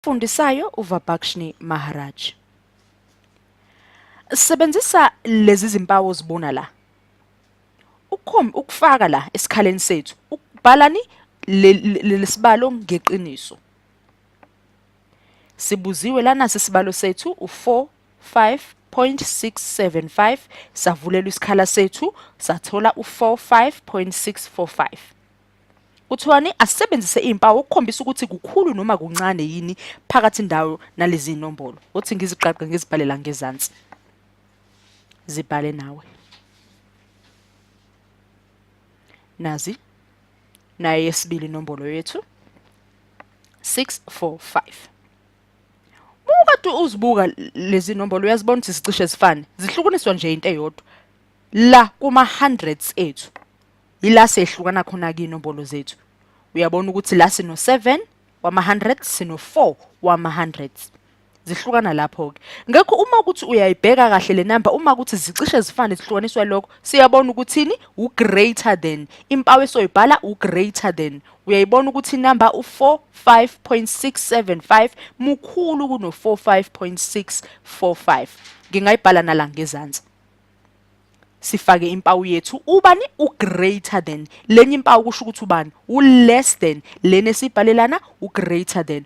Fundisayo uVabhakshni Maharaj. Sebenzisa lezi zimpawu ozibona la. Ukhombe ukufaka la esikhaleni sethu. Ukubhalani lesibalo ngeqiniso. Sibuziwe lana sisibalo sethu u4 5.675 savulelwa isikhala sethu sathola u45.645. Kuthiwani asebenzise impawu ukukhombisa ukuthi kukhulu noma kuncane yini phakathi ndawo nalezi inombolo. Uthi ngiziqaqe ngizibhalela ngezansi. Zibhale nawe. Nazi naye yesibili inombolo yethu 645. Ukade uzibuka lezi nombolo uyazibona ukuthi sicishe zifane zihlukuniswa nje into eyodwa la kuma hundreds ethu yila sehlukana khona ke inombolo zethu uyabona ukuthi la sino 7 wama 100 sino 4 wama 100 zihlukana lapho ke ngekho uma ukuthi uyayibheka kahle le number uma ukuthi zicishe zifane zihlukaniswa lokho siyabona ukuthini u greater than impawu esoyibhala u greater than uyayibona ukuthi number u 45.675 mukhulu kuno 45.645 ngingayibhala nala ngezansi sifake impawu yethu ubani ugreater than lenye impawu kusho ukuthi ubani uless than lena esibhalelana ugreater than